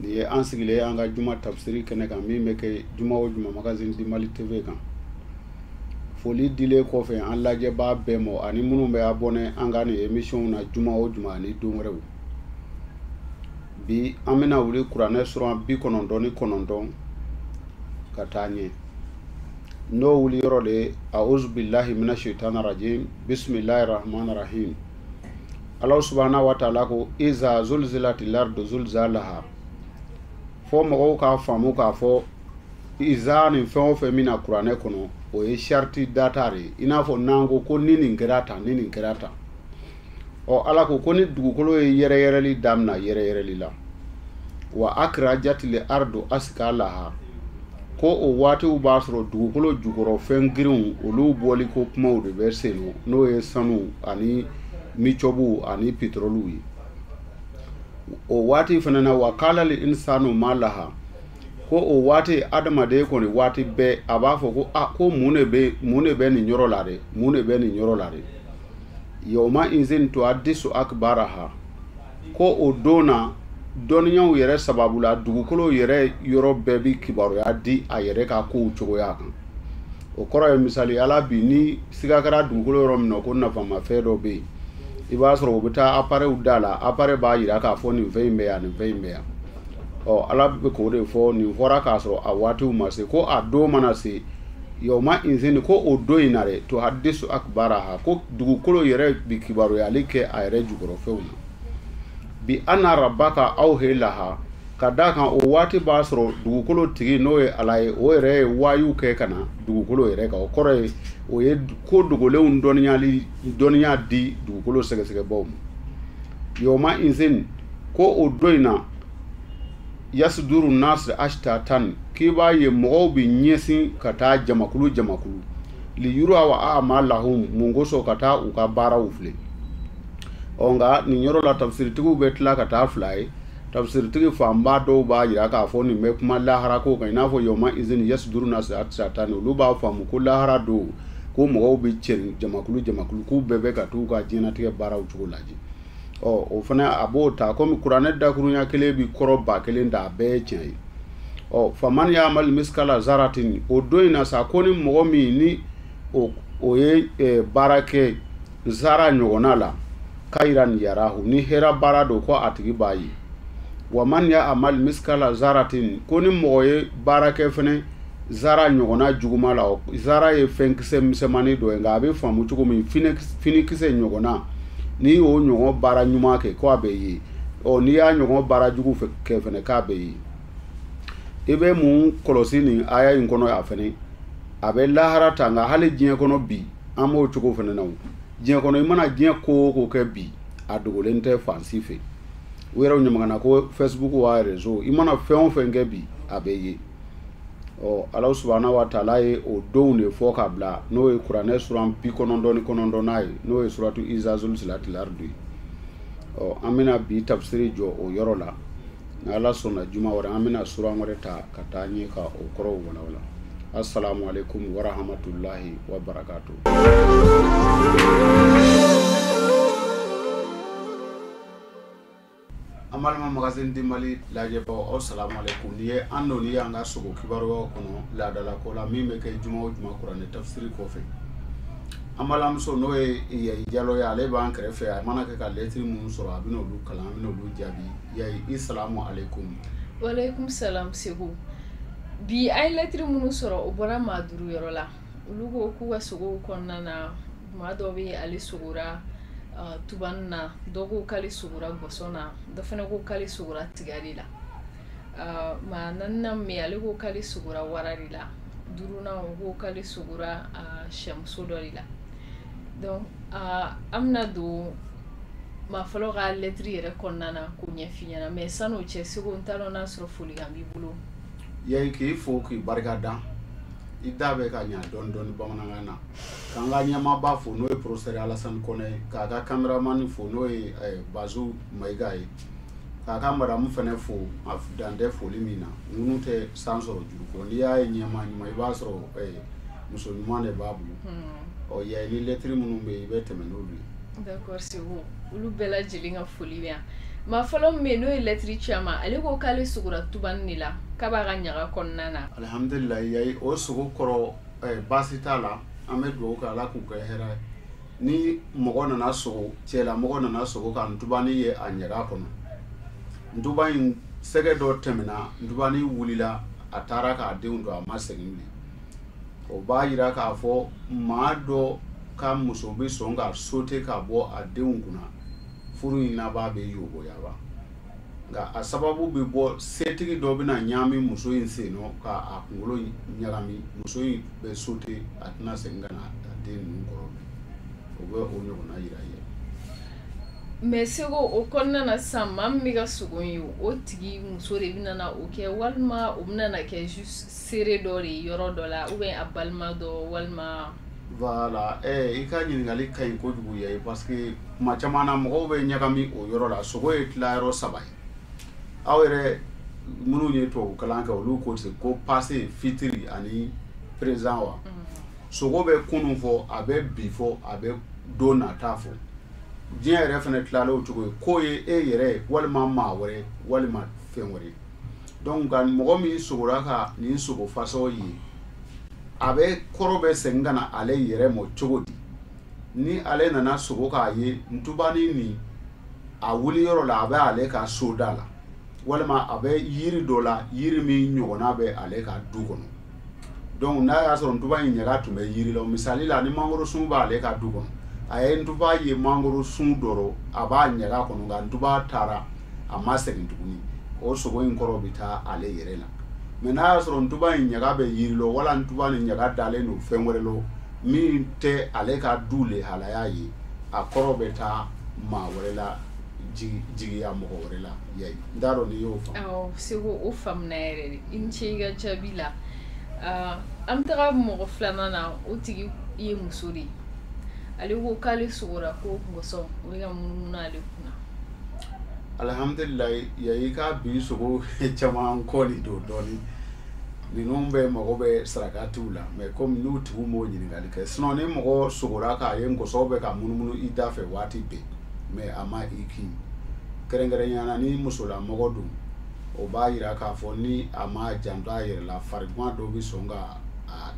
nin ye an sigilen ye an ka juma tafsiri kɛnɛ kan min bɛ kɛ juma o juma magazine du mali tv kan foli dilen kɔfɛ an lajɛbaa bɛɛ mɔ ani minnu bɛ abɔnɛ an ka nin emisiyonw na juma o juma ani don wɛrɛw bi an bɛna wuli kuranɛ suran bi kɔnɔntɔn ni kɔnɔntɔn ka taa ɲɛ n'o wuli yɔrɔ de ye auzu bilahi mina shaitani rajim bisimilahi rahmani rahim Ala subhana wa taala ko iza zulzilatil ardu zulzalaha fɔ mɔgɔw k'a faamu k'a fɔ iza nin fɛn o fɛn min na kuranɛ kɔnɔ o ye sariti data de ye in n'a fɔ n'an ko ko ni nin kɛra tan ni nin kɛra tan ɔ ala ko ko ni dugukolo ye yɛrɛ yɛrɛli damina yɛrɛ yɛrɛli la wa akrajatil ardu askalaha ko o waatiw b'a sɔrɔ dugukolo jukɔrɔ fɛn girinw olu bɔli ko kumaw de bɛ sen nɔ n'o ye sanu ani micɔbu ani pitoroliw ye o waati fana na wa kalali insanu ma laha ko o waati adamaden kɔni waati bɛɛ a b'a fɔ ko a ko mun de bɛ nin yɔrɔ la dɛ yawma izin tuhadisu akibaraha ko o don na dɔnniyaw yɛrɛ sababu la dugukolo yɛrɛ yɔrɔ bɛɛ bi kibaruya di a yɛrɛ ka kow cogoya kan o kɔrɔ ye misali la bi ni siga kɛra dugukolo yɔrɔ min na ko nafamafɛn dɔ bɛ yen i b'a sɔrɔ u bɛ taa aparɛw da la aparɛ b'a yira k'a fɔ nin fɛn in bɛ yan nin fɛn in bɛ yan ɔ ala bɛ k'o de fɔ nin fɔra k'a sɔrɔ a waatiw ma se ko a don mana se Yawma izin ko o don in na dɛ tuhadisu akibaraha ko dugukolo yɛrɛ bi kibaruyali kɛ a yɛrɛ jukɔrɔfɛnw na bi anna rabaka awha laha ka da a kan o waati b'a sɔrɔ dugukolo tigi n'o ye ala ye o yɛrɛ ye wahayu kɛ ka na dugukolo yɛrɛ kan o kɔrɔ ye o ye ko dogolenw dɔnniya dɔnniya di dugukolo sɛgɛsɛgɛbaaw ma yawma izin ko o don in na yasuduru nasu ashtatan k'i b'a ye mɔgɔw bɛ ɲɛsin ka taa jamakulu jamakulu li yuraw amalahum mun kosɔn ka taa u ka baaraw filɛ ɔ nka nin yɔrɔ la tafsiritigiw bɛ tila ka taa fila ye tafsiritigi fanba dɔw b'a yira k'a fɔ nin bɛ kuma lahara ko kan i n'a fɔ yɔma izini yasuduru nasu ashtatan olu b'a faamu ko lahara don ko mɔgɔw bɛ cɛrin jamakulu jamakulu k'u bɛɛ bɛ ka t'u ka diɲɛnatigɛ baaraw cogo lajɛ ɔ o fana a b'o ta komi kuranɛ dakurunya kelen bi kɔrɔ ba kelen da a bɛɛ ye tiɲɛ ye ɔ faman yamali misikala zaratin o don in na sa ko ni mɔgɔ min ni o o ye eh, baara kɛ zara ɲɔgɔnna la kayiran yarahu ni hera baara don ko a tigi b'a ye wa man yamali misikala zaratin ko ni mɔgɔ ye baara kɛ fɛnɛ zara ɲɔgɔnna juguma la zara ye fɛnkisɛ misɛnmani dɔ ye nka a bɛ faamu cogo min finikisɛ ɲɔgɔnna n'i y'o ɲɔgɔn baara ɲuman kɛ ko a bɛ ye ɔ n'i y'a ɲɔgɔn baara jugu kɛ fɛnɛ k'a bɛ ye i bɛ mun kɔlɔsi nin aya in kɔnɔ yan fɛnɛ a bɛ lahara ta nka hali diɲɛ kɔnɔ bi an b'o cogo fɛnɛ na o diɲɛ kɔnɔ i mana diɲɛ ko o ko kɛ bi a dogolen tɛ fan si fɛ u yɛrɛ ɲamagana ko facebook wa rezo i mana fɛn o fɛn kɛ bi a bɛ ye ɔ ala subahana wa taala ye o donw de fɔ ka bila n'o ye kuranɛ suran bi kɔnɔntɔn ni kɔnɔntɔnna ye n'o ye suratu iza zulzilatil ardu ye ɔ an bɛna bi tafsiri jɔ o yɔrɔ la ni ala sɔnna juma wɛrɛ an bɛna suran wɛrɛ ta ka taa ɲɛ ka o kɔrɔw walawala assalamu alaikum warahmatullahi wabarakatuh An balima magazine du Mali lajɛbaaw aw salam aleyikoum nin ye an donnen ye an ka sogo kibaruyaw kɔnɔ laadala ko la min bɛ kɛ juma o juma kuranɛ tafisiri kɔfɛ an balimamuso n'o ye Yayi Jalo ye ale b'an kɛrɛfɛ a mana kɛ ka lɛtiri minnu sɔrɔ a bɛ n'olu kalan an bɛ n'olu jaabi Yayi i salam aleyikoum. Waleyikoum salam Seku bi an ye lɛtiri minnu sɔrɔ o bɔra maa duuru yɔrɔ la. olu ko k'u ka sogow kɔnɔna na maa dɔ bɛ ale sogora uh, tubani na dɔ ko k'ale sogora gɔsɔn na dɔ fana ko k'ale sogora tiga de la uh, maa naaninan min ale ko k'ale sogora wara de la duurunan o ko k'ale sogora uh, sɛmuso dɔ de la donc uh, an bɛna don maa fɔlɔ ka lɛtiri yɛrɛ kɔnɔna na k'o ɲɛf'i ɲɛna mais san'o cɛ seku n t'a dɔn n'a sɔrɔ folikan b'i bolo yayi k'i fo k'i barika da i da bɛ ka ɲɛ dɔɔni dɔɔni bamanankan na k'an ka ɲɛmaaba fo n'o ye professeur alasani kɔnɛ ye k'a ka kameramani fo n'o ye eh, bazu mayiga ye k'a ka madamu fɛnɛ fo a dan tɛ foli min na ŋunu tɛ san sɔrɔ juru kɔ n'i y'a ye ɲɛmaa ɲuman i b'a sɔrɔ eh, muso ɲuman de b'a bolo hmm. ɔ yayi ni lɛtiri minnu bɛ yen i bɛ tɛmɛ n'olu ye D'accord c'est bon olu bɛɛ lajɛlen ka foli bɛ yan maa fɔlɔ min bɛ yen n'o ye lɛtiri ci an ma ale ko k'ale sogora tubani de la k'a b'a ka ɲaga kɔnɔna na alihamdulilayi yayi o sogo kɔrɔ eh, baasi t'a la an bɛ dugawu kɛ ala k'u kɛ hɛrɛ ye ni mɔgɔ nana sogo cɛla mɔgɔ nana sogo ka ntubani ye a ɲaga kɔnɔ ntuba in sɛgɛ dɔ tɛmɛna ntubani wulila a taara k'a denw to a ma segin bilen o b'a jira k'a fɔ maa dɔ ka muso bɛ sɔn ka sote ka bɔ a denw kunna furu in laban bɛ yoboyaba nka a sababu bɛ bɔ setigi dɔ bɛna ɲaami muso in sen nɔ ka a kunkolo ɲagami muso in bɛ sote a tɛna segin ka na a den ninnu kɔrɔ o bɛ o ɲɔgɔnna jira ye mais seku o kɔnɔna na sisan maa min bɛ ka sogo ye o tigi muso de bɛ o kɛ walima o bɛna kɛ seere dɔ de yɔrɔ dɔ la ou bien a balima dɔ walima voilà eh, i ka ɲininkali ka ɲi kojugu ye parce que kuma caman na mɔgɔw bɛ ɲagami o yɔrɔ la sogo ye tilayɔrɔ saba ye aw yɛrɛ minnu ye tubabu kalan kɛ olu ko ten ko passé futur ani présent wa mm. sogo bɛ kunun fɔ a bɛ bi fɔ a bɛ don nata fɔ diɲɛ yɛrɛ fana tilalen o cogo ye k'o ye e yɛrɛ walima maa wɛrɛ walima fɛn wɛrɛ donc nka mɔgɔ min sogora ka nin sogo fasɔn ye a bɛ kɔrɔ bɛ segin ka na ale yɛrɛ mɔ cogo di ni ale nana sogo k'a ye ntubani nin a wuli yɔrɔ la a bɛ ale ka soda la walima a bɛ yiri dɔ la yiri min ɲɔgɔnna bɛ ale ka du kɔnɔ donc n'a y'a sɔrɔ ntuba in ɲaga tun bɛ yiri la misali la ni mangoro sun b'ale ka du kɔnɔ a ye ntuba ye mangoro sun dɔ rɔ a b'a ɲaga kɔnɔ nka ntuba taara a ma segin tuguni o sogo in kɔrɔ bɛ taa ale yɛrɛ la mais n'a y'a sɔrɔ ntuba in ɲaga bɛ yiri la wala ntuba ni ɲaga dalen don fɛn wɛrɛ la min tɛ ale ka du le halala ye a kɔrɔ bɛ taa maa wɛrɛ la jigiya mɔgɔ wɛrɛ la n t'a dɔn n'i y'o faamu awɔ Seko o faamuna yɛrɛ de i ni ce i ka jaabi la ah, an bɛ taga mɔgɔ filanan na o tigi ye muso de ye ale ko k'ale sogora ko nkɔsɔn o bɛ ka munumunu ale kunna alihamdulilayi yayi ka bi sogo caman kɔni don dɔɔnin ninnu bɛɛ mago bɛ sarakatiw la mais comme n'u tigiw m'o ɲininkali kɛ sinon ni mɔgɔ sogora k'a ye nkɔsɔn bɛ ka munumunu i dafɛ waati bɛɛ mais a ma i kin kɛrɛnkɛrɛnya na ni musolamɔgɔ don o b'a jira k'a fɔ ni a ma janto a yɛrɛ la farigan dɔ bɛ sɔn k'a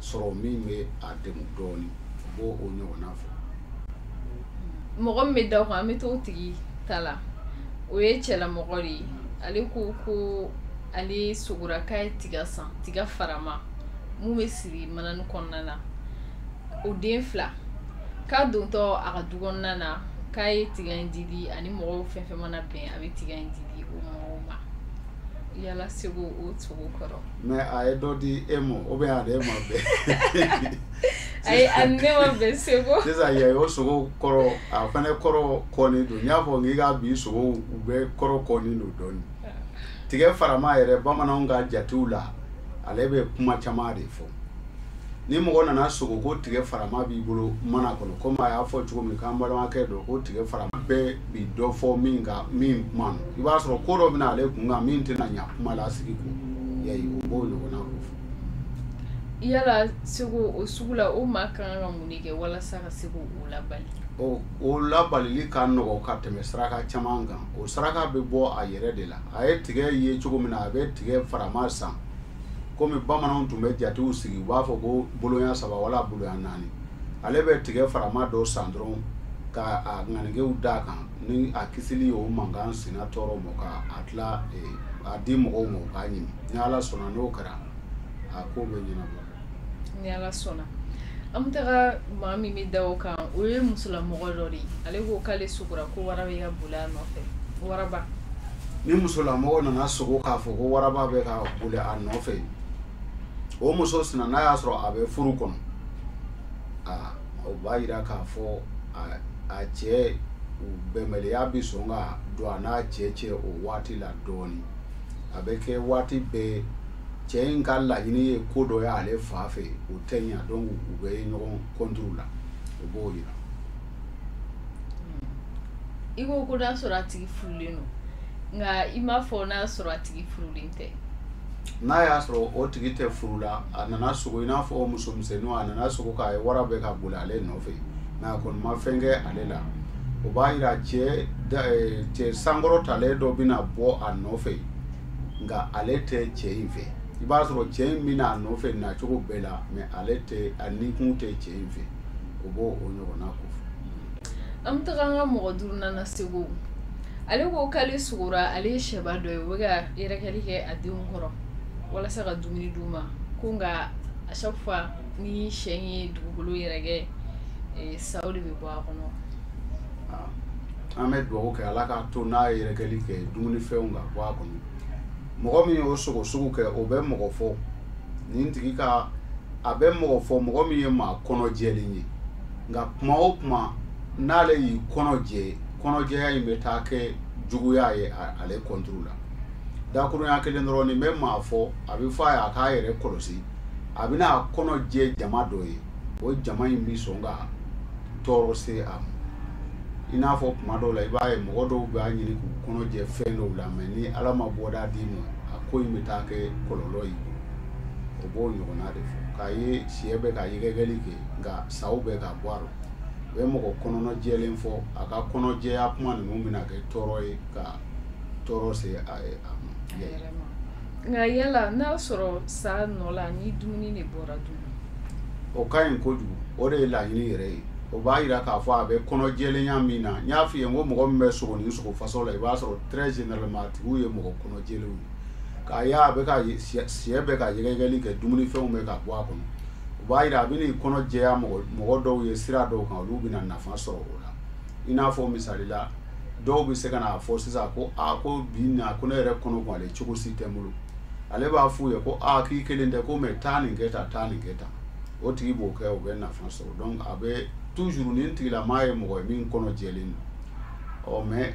sɔrɔ min bɛ a degun dɔɔnin o b'o ɲɔgɔnna fɔ mɔgɔ min bɛ da o kan an bɛ t'o tigi ta la o ye cɛlamɔgɔ de ye ale ko ko ale sogora k'a ye tiga san tiga farama min bɛ siri manani kɔnɔna na o den fila k'a dontɔ a ka du kɔnɔna na k'a ye tiga in didi a ni mɔgɔw fɛn fɛn mana bɛn a bɛ tiga in didi yala Seko o sogo kɔrɔ mais a ye dɔ di e ma ou bien a ni e ma bɛn ayi a ne ma bɛn Seko sisan yayi o sogo kɔrɔ a fana kɔrɔ kɔni don n y'a fɔ k'i ka bi sogo u bɛɛ kɔrɔ kɔni don dɔɔni tigɛ farama yɛrɛ bamananw ka jatew la ale bɛ kuma caman de fɔ ni mɔgɔ nana sogo ko tigɛ farama b'i bolo mana kɔnɔ comme a y'a fɔ cogo min k'an balimakɛ don ko tigɛ farama bɛɛ bi dɔ fɔ min ka min kuma i b'a sɔrɔ ko dɔ bɛna ale kun kan min tɛna ɲa kuma la sigi ko yayi o b'o ɲɔgɔnna ko fɔ yala Seko o sugu la o maa kan ka mun de kɛ walasa ka se k'o labali o labalili ka nɔgɔ ka tɛmɛ saraka caman kan o saraka bɛ bɔ a yɛrɛ de la a ye tigɛ ye cogo min na a bɛ tigɛ farama san kɔmi bamananw tun bɛ jatew sigi u b'a fɔ ko boloɲa saba wala boloɲa naani ale bɛ tigɛ farama dɔ san dɔrɔn ka a ŋanigew da a kan ni a kisili o mankan sina tɔɔrɔ ma ka a tila a di mɔgɔw ma u k'a ɲimi ni ala sɔnna n'o kɛra a ko bɛ ɲɛnabɔ ni ala sɔnna an bɛ taga maa min bɛ da o kan o ye musolamɔgɔ dɔ de ye ale ko k'ale sogora ko wara bɛ ka boli a nɔfɛ waraba ni musolamɔgɔ nana sogo k'a fɔ ko waraba bɛ ka boli a nɔfɛ o muso sina n'a y'a sɔrɔ a bɛ furu kɔnɔ aa o b'a yira k'a fɔ a cɛ bɛnbaliya bɛ sɔn ka don a n'a cɛ cɛ o waati la dɔɔnin a bɛ kɛ waati bɛɛ cɛ in ka laɲini ye ko dɔ ye ale fan fɛ o tɛ ɲɛ donc u bɛ ɲɔgɔn contre la o b'o yira i ko ko n'a sɔrɔ a tigi furulen don nka i m'a fɔ n'a sɔrɔ a tigi furulen tɛ n'a y'a sɔrɔ o tigi tɛ furu la a nana sogo i n'a fɔ o muso misɛnninw a nana sogo k'a ye wara bɛ ka boli ale nɔfɛ mais a kɔni ma fɛn kɛ ale la o b'a yira cɛ cɛ sankɔrɔtalen dɔ bɛna bɔ a nɔfɛ nka ale tɛ cɛ in fɛ i b'a sɔrɔ cɛ in bɛna a nɔfɛ nacogo bɛɛ la mais ale tɛ a nikun tɛ cɛ in fɛ o b'o o ɲɔgɔnna ko fɔ an bɛ taga an ka mɔgɔ duurunan na segu ale ko k'ale sogora ale ye sɛba dɔ ye o bɛ ka yɛrɛkɛli kɛ a denw kɔrɔ walasa ka dumuni d'u ma ko nka à chaque fois ni sɛ ye dugukolo yɛrɛkɛ eh, saw de bɛ bɔ a kɔnɔ an bɛ dugawu kɛ ala k'a to n'a ye yɛrɛkɛli kɛ dumunifɛnw ka bɔ a kɔnɔ mɔgɔ min y'o sogo sugu kɛ o bɛ mɔgɔ fɔ nin tigi ka a bɛ mɔgɔ fɔ mɔgɔ min ye maa kɔnɔjɛlen ye nka kuma o kuma n'ale y'i kɔnɔ jɛ kɔnɔjɛya in bɛ taa kɛ juguya ye ale contre la dakurunya kelen dɔrɔn nin bɛ maa fɔ a bɛ fɔ a ye a k'a yɛrɛ kɔlɔsi a bɛna a kɔnɔ jɛ jama dɔ ye o jama in bɛ sɔn ka tɔɔrɔ se a ma i n'a fɔ kuma dɔw la i b'a ye mɔgɔ dɔw b'a ɲini k'u kɔnɔ jɛ fɛn dɔw la mais ni ala ma bɔda d'i ma a ko in bɛ taa kɛ kɔlɔlɔ ye o b'o ɲɔgɔnna de fɔ k'a ye sɛ bɛ ka yɛrɛkɛli kɛ nka saw bɛ ka bɔ a la o bɛ mɔgɔ kɔnɔna jɛlen fɔ a ka kɔnɔjɛya kuma ninnu bɛna kɛ tɔɔrɔ ye ka tɔɔrɔ se a ma nka yala n'a sɔrɔ sa nɔ la ni dumuni de bɔra dun o ka ɲi kojugu o de ye laɲini yɛrɛ ye o b'a yira k'a fɔ a bɛ kɔnɔjɛlenya min na n y'a f'i ye n ko mɔgɔ min bɛ sogo nin sogo façon la i b'a sɔrɔ très généralement a tigiw ye mɔgɔ kɔnɔjɛlenw ye k'a ye a bɛ ka sɛ bɛ ka yɛgɛyɛgɛli kɛ dumunifɛnw bɛ ka bɔ a kɔnɔ o b'a yira a bɛn'i kɔnɔ jɛya mɔgɔ dɔw ye sira dɔw kan olu bɛna nafa sɔrɔ o la i n'a fɔ misali la dɔw bɛ se ka n'a fɔ sisan ko ko bi ko ne yɛrɛ kɔnɔ ale cogo si tɛ n bolo ale b'a f'u ye ko aaa k'i kelen tɛ ko mais taa nin kɛ tan taa nin kɛ tan o tigi b'o kɛ o bɛ nafa sɔrɔ a bɛ toujours nin tigilamaa ye mɔgɔ ye min kɔnɔ jɛlen don mais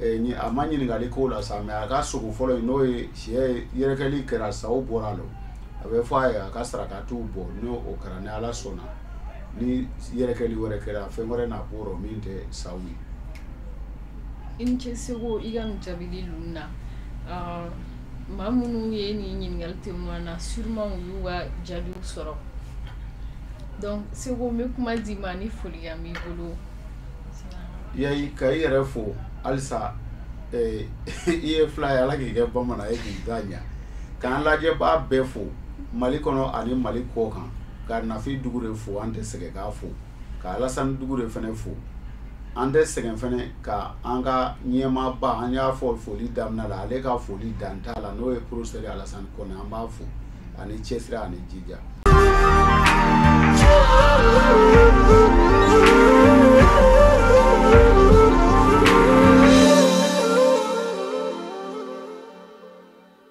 a ma ɲininkali k'o la sa mais a ka sogo fɔlɔ n'o ye si yɛrɛkɛli kɛra saw bɔra a la a bɛ fɔ a ye a ka sarakaw bɔ n' o kɛra ni ala sɔnna ni yɛrɛkɛli wɛrɛ kɛra fɛn wɛrɛ na b'o rɔ min tɛ saw ye i ni ce seku i ka nin jaabili ninnu na ah, maa minnu ye nin ɲininkali tɛmɛn na sûrement u y'u ka jaabiw sɔrɔ donc seku n bɛ kuma d'i ma ni folikan b'i bolo yayi ka i yɛrɛ fo halisa eh, i ye fila ye ala k'i kɛ bamanan ye k'i da ɲa k'an lajɛbaa bɛɛ fo mali kɔnɔ ani mali kɔ kan ka nafi dukure fo an tɛ sɛgɛn k'a fo ka alasani dukure fɛnɛ fo an tɛ sɛgɛn fɛnɛ ka an ka ɲɛmaaba an y'a fɔ foli daminɛ la ale ka foli dan t'a la n'o ye porofesɛri alasani kɔnɛ an b'a fo ani cɛsiri ani jija